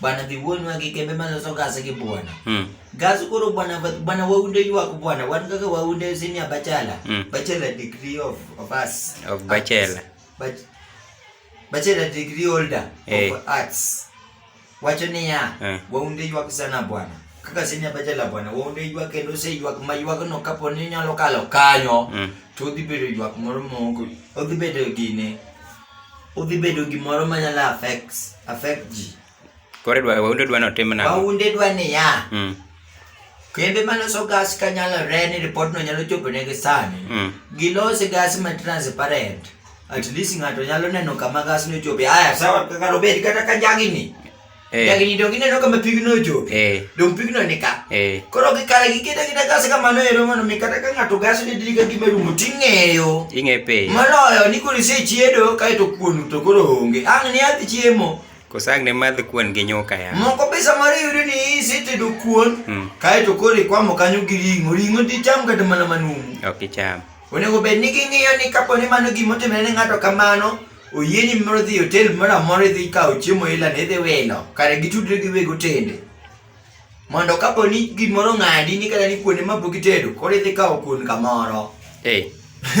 bwana dhi wuon wa gi kembe ma loso gas gi bwana mm. gas koro bwana bwana waunde ywak bwana wan kaka waunde senior bachelor mm. bachelor degree of of us of bachelor Bach bachelor degree holder hey. of eh. arts wacho niya eh. waunde ywak sana bwana kaka senior bachelor bwana waunde ywak kendo se ywak ma ywak no kapo ni nyalo kalo kanyo mm. to dhi bedo ywak moro moko odhi bedo gine Udhi bedo gimoro ma nyalo affect affect ji. Kore dwa waunde dwa no tim na. Waunde dwa ni ya. Mm. Kembe ma loso gas ka nyalo re ni report no nyalo chopo ne gi sani. Mm. Gilosi gas ma transparent. At least ng'ato nyalo neno kama gas no chopo. Aya sawa kaka robedi kata ka jagi ni. Eh. Dagini dong ini no kama pigno jo. Eh. Dong pigno nika. Eh. Koro ki kala ki kita kita gas kama no ero mano mikata ka ngato gas ni dili ka gima rumo tingeyo. Inge pe. Mano yo ni kuri se chiedo kai to kuonu to koro onge. Ang ni ati chiemo. Kosang ne madh kuon gi nyoka ya. Moko pesa mari yuri ni siti do kuon. Hmm. Kai to kori kwa mo kanyo gi ringo. Ringo ti cham kata mana manumu. Ok cham. Onego bed ni ging'iyo ni kapo ni mano gimotimre ne ng'ato kamano oyienyi moro dhi hotel moro amora idhi ikawo chiemo ila ne idhi wilo kare gitudre gi weg otende mondo kapo ni gimoro ng'adi ni kata ni kuonde ma pok itedo koro idhi kawo kuon kamoro eh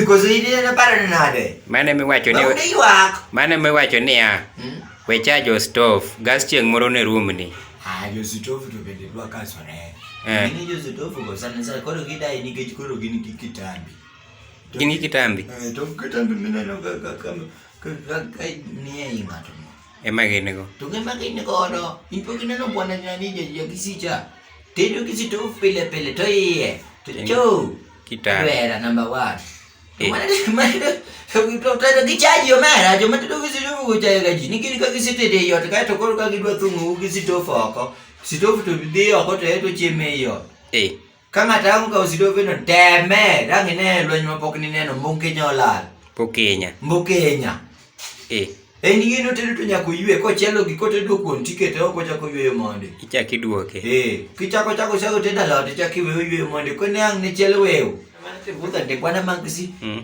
koso in ineno paro ni nade mane miwacho ni Bawude ywak mane miwacho niya Hmm? we chajo stove gas chieng' moro ne room ni Ah, jositofu to bende dwa kasore Eh. Gini jositofu go sana sana koro gidai nikech koro gin gi kitambi Gin gi kitambi. Eh, to kitambi mineno ga ga ka ka ka ka nie i ng'ato. mo. Ema gin go. To gin ma gin godo, in pok ineno bwana ni ni je je kisicha. Tedo kisito pile pile to iye. To Gin- cho. Kitambi. Kwera number 1. Eh. Mana mana to to to kichaji omera, jo matedo kisito kuchaji ga ji. Ni gin ka kisito de yot ka to koro ka gidwa thungu kisito foko. Kisito to dhi oko to eto chieme yot. Eh. Ka ng'ato ang' okawo sidoveno, teme, dang' ine e lweny ma pok nineno, Mbokenya olal. Pokenya. Mbokenya. Eh. En gino tedo to nyaka oywe kochielo gi kotedo kuon tikete oko chako yweyo monde. Ichak iduoke. Eh, kichako chako chako tedo alot ichak iweyo yweyo monde ko ne ang' ne chiel wew. Mano te budha te kwana mangsi. Mm.